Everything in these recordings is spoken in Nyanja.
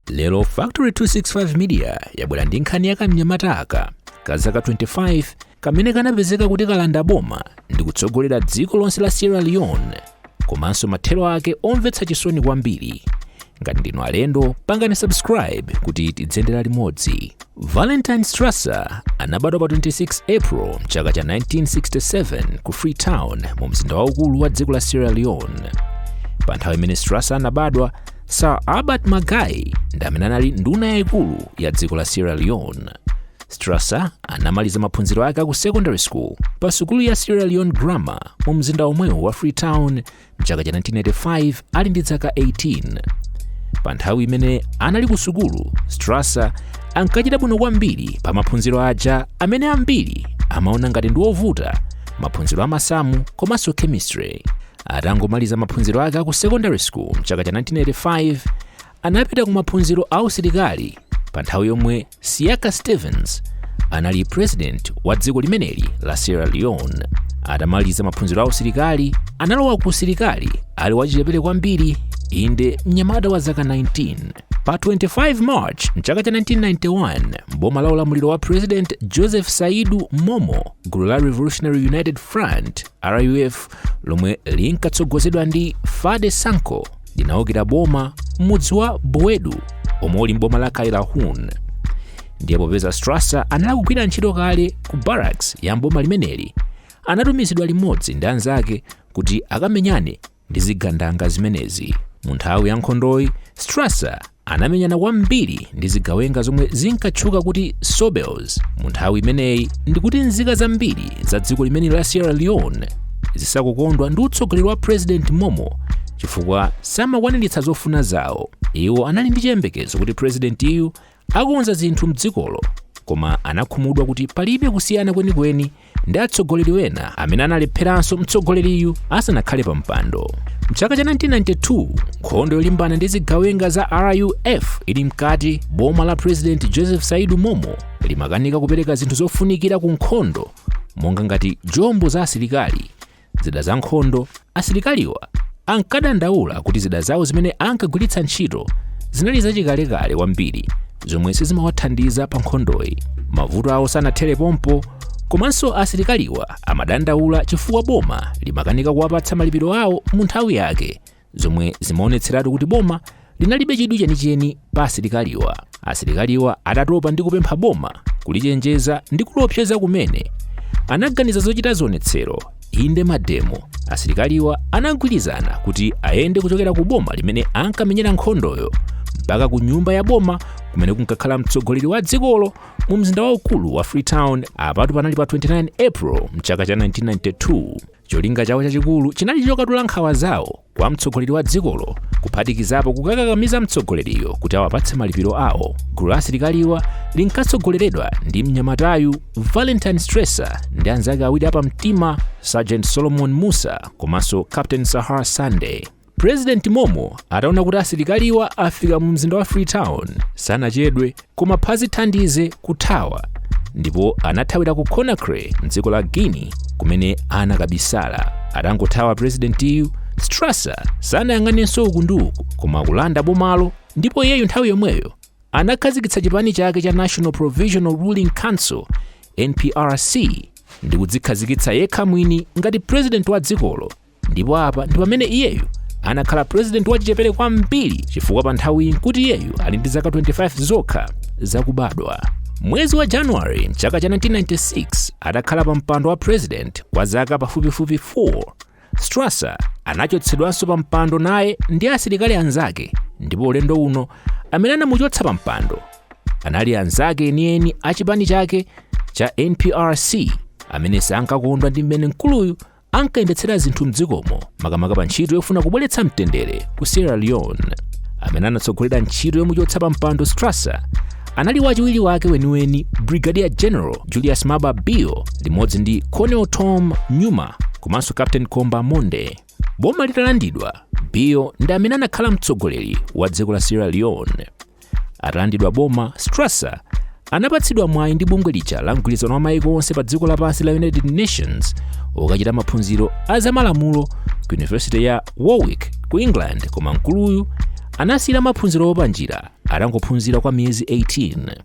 lero factory 265 media yabwera ndi nkhani ya kamnyamata aka ka zaka 25 kamene kanapezeka kuti kalanda boma ndi kutsogolera dziko lonse la sierra leone komanso mathero ake omvetsa chisoni kwambiri ngati ndinu alendo pangani subscribe kuti tidzendera limodzi Valentine Strasser anabadwa pa 26 April mchaka cha 1967 ku Freetown mu mzinda waukulu wa dziko la Sierra Leone. Pa nthawi imene Strasser anabadwa, Sir Albert Margai ndi amene anali nduna yaikulu ya dziko la Sierra Leone. Strasser anamaliza maphunziro ake aku secondary school pa sukulu ya Sierra Leone Grammar mu mzinda omwewu wa Freetown mchaka cha 1985 ali ndi zaka 18 pa nthawi imene anali ku sukulu strasser ankachita bwino kwambiri pa maphunziro aja amene ambiri amaona ngati ndi ovuta maphunziro a masamu komanso chemistry atangomaliza maphunziro ake aku secondary school mchaka cha 1985 anapita ku maphunziro a usilikali pa nthawi yomwe Siaka Stevens anali president wa dziko limeneli la Sierra Leone. Atamaliza maphunziro a usilikali, analowa ku usilikali ali wachichepere kwambiri, inde mnyamata wa zaka 19. Pa 25 March mchaka cha 1991, mboma la ulamuliro wa President Joseph Saidu Momoh, gulu la Revolutionary United Front RUF lomwe linkatsogozedwa ndi Foday Sankoh linaukira boma m'mudzi wa Bowedu omwe uli m'boma la Kailahun. Ndiye popeza Strasser anali kugwira ntchito kale ku barracks ya m'boma limeneli, anatumizidwa limodzi ndi anzake kuti akamenyane ndi zigandanga zimenezi. Mu nthawi ya nkhondoyi, Strasser anamenyana kwambiri ndi zigawenga zomwe zinkatchuka kuti Sobels. Mu nthawi imeneyi ndikuti nzika zambiri za dziko limene la Sierra Leone zisakukondwa ndi utsogoleri wa President Momoh chifukwa samakwaniritsa zofuna zawo. Iwo anali ndi chiyembekezo kuti President yu akonza zinthu mdzikolo koma anakhumudwa kuti palibe kusiyana kwenikweni ndi atsogoleri wena amene analepheranso mtsogoleriyu asanakhale pa mpando mchaka cha 1992 nkhondo yolimbana ndi zigawenga za ruf ili mkati boma la president joseph saidu momoh limakanika kupereka zinthu zofunikira ku nkhondo monga ngati jombo za asilikali Zida za nkhondo Asilikaliwa ankadandaula kuti zida zawo zimene ankagwiritsa ntchito zinali zachikalekale kwambiri zomwe sizimawathandiza pa nkhondoyi. Mavuto awo sanathere pompo, komanso asilikaliwa amadandaula chifukwa boma limakanika kuwapatsa malipiro awo mu nthawi yake zomwe zimaonetseratu kuti boma linalibe chidwi chenicheni pa asilikaliwa asilikaliwa atatopa ndi kupempha boma kulichenjeza ndi kulopseza kumene anaganiza zochita zionetsero inde mademo asilikaliwa anagwirizana kuti ayende kuchokera ku boma limene ankamenyera nkhondoyo mpaka ku nyumba ya boma kumene kunkakhala mtsogoleri wa dzikolo mu mzinda waukulu wa freetown apatu panali pa 29 april mchaka cha 1992 cholinga chawo chachikulu chinali chokatula nkhawa zawo kwa mtsogoleri wa dzikolo kuphatikizapo kukakakamiza mtsogoleriyo kuti awapatse malipiro awo gulu la asilikaliwa linkatsogoleredwa ndi mnyamatayu valentine strasser ndi anzake awiri apamtima sergeant solomon musa komanso captain sahr sandy President Momoh ataona kuti asilikaliwa afika mu mzinda wa Freetown sanachedwe koma phazi thandize kuthawa ndipo anathawira ku Conakry mdziko la Guinea kumene anakabisala. Atangothawa presidentiyu Strasser sanayang'anenso uku ndi uku koma kulanda bomalo ndipo iyeyu nthawi yomweyo anakhazikitsa chipani chake cha National Provisional Ruling Council NPRC ndi kudzikhazikitsa yekha mwini ngati president wa dzikolo ndipo apa ndi pamene iyeyu anakhala purezidenti wachichepere kwambiri chifukwa pa nthawiyi nkuti iyeyu ali ndi zaka 25 zokha zakubadwa mwezi wa january mchaka cha 1996 atakhala pa mpando wa purezidenti kwa zaka pafupifupi 4 strasser anachotsedwanso pa mpando naye ndi asilikali anzake ndipo ulendo uno amene anamuchotsa pa mpando anali anzake enieni a chipani chake cha nprc amene sankakondwa ndi mmene mkuluyu ankayendetsera zinthu m'dzikomo makamaka pa ntchito yofuna kubweretsa mtendere ku sierra leone amene anatsogolera ntchito yomuchotsa pa mpando strasser anali wachiwiri wake weniweni brigadier general julius maada bio limodzi ndi colonel tom nyuma komanso captain komba mondeh boma litalandidwa bio ndi amene anakhala mtsogoleri wa dziko la sierra leone atalandidwa boma strasser anapatsidwa mwayi ndi bungwe lija la mgwirizano wa maiko onse pa dziko lapansi la united nations wokachita maphunziro a zamalamulo ku yunivesiti ya warwick ku england koma mkuluyu anasiyira maphunzirowo panjira atangophunzira kwa miyezi 18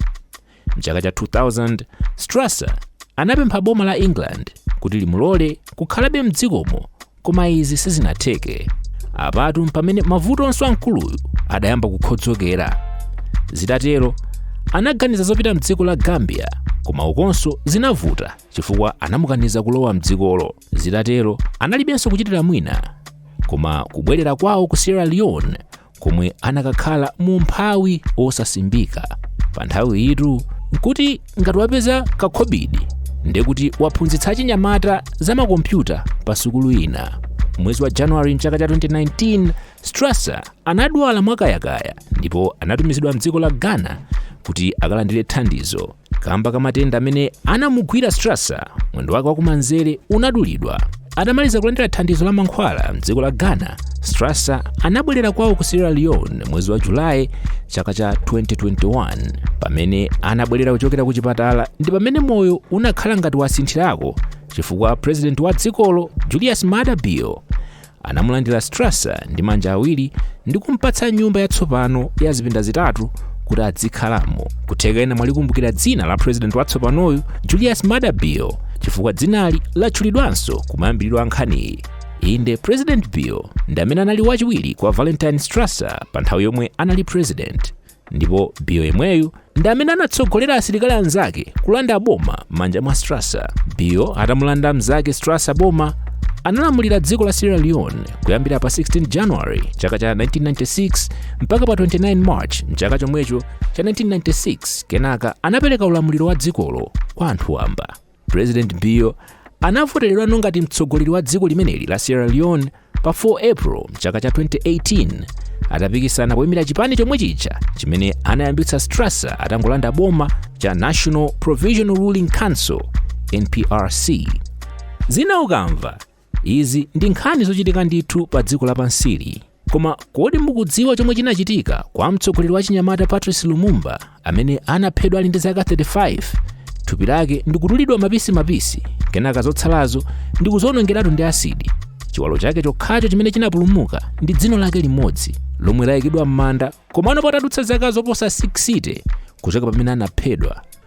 M'chaka cha 2000, Strasser anapempha boma la England kuti limulole kukhalabe m'dzikomo koma izi sizinatheke. Apatu mpamene mavuto onse a mkuluyu adayamba kukhodzokera. Zitatero, anaganiza zopita m'dziko la Gambia koma ukonso zinavuta chifukwa anamukaniza kulowa m'dzikolo. Zitatero, analibenso kuchitira mwina koma kubwerera kwawo ku Sierra Leone komwe anakakhala mu umphawi wosasimbika pa nthawi iyitu nkuti ngati wapeza kakhobidi ndiye kuti waphunzitsa achinyamata za makompyuta pa sukulu ina mwezi wa januwari mchaka cha 2019 strasser anadwala mwakayakaya ndipo anatumizidwa mdziko la ghana kuti akalandire thandizo kamba ka matenda amene anamugwira strasser mwendo wake wakumanzere unadulidwa atamaliza kulandira thandizo la mankhwala mdziko la ghana strasser anabwerera kwawo ku sierra leone mwezi wa julayi chaka cha 2021 pamene anabwerera kuchokera ku chipatala ndi pamene moyo unakhala ngati wasinthirako chifukwa president wa dzikolo julius maada bio Anamulandira Strasser ndi manja awiri ndi kumpatsa nyumba yatsopano ya zipinda zitatu kuti adzikhalamo. Kutheka ena mwalikumbukira dzina la president watsopanoyu Julius Maada Bio chifukwa dzinali latchulidwanso kumayambiriro a nkhaniyi. Inde, President Bio ndi amene anali wachiwiri kwa Valentine Strasser pa nthawi yomwe anali president. ndipo bio yemweyu ndi amene anatsogolera asilikali anzake kulanda boma m'manja mwa strasser bio atamulanda mnzake strasser boma analamulira dziko la sierra leone kuyambira pa 16 january chaka cha 1996 mpaka pa 29 march mchaka chomwecho cha 1996 kenaka anapereka ulamuliro wa dzikolo kwa anthu wamba president bio anavoteredwano ngati mtsogoleri wa dziko limeneli la sierra leone pa 4 april mchaka cha 2018 atapikisana poyimira chipani chomwe chija chimene anayambitsa strasser atangolanda boma cha national provisional ruling council nprc zina ukamva Izi ndi nkhani zochitika ndithu pa dziko lapansili. Koma kodi mukudziwa chomwe chinachitika kwa mtsogoleri wa chinyamata Patrice Lumumba amene anaphedwa ali ndi zaka 35? Thupi lake ndikudulidwa mapisi mapisi, kenaka zotsalazo ndikuzionongeratu ndi asidi. Chiwalo chake chokhacho chimene chinapulumuka ndi dzino lake limodzi lomwe layikidwa m'manda komano patadutsa zaka zoposa 60 kuchoka pamene anaphedwa.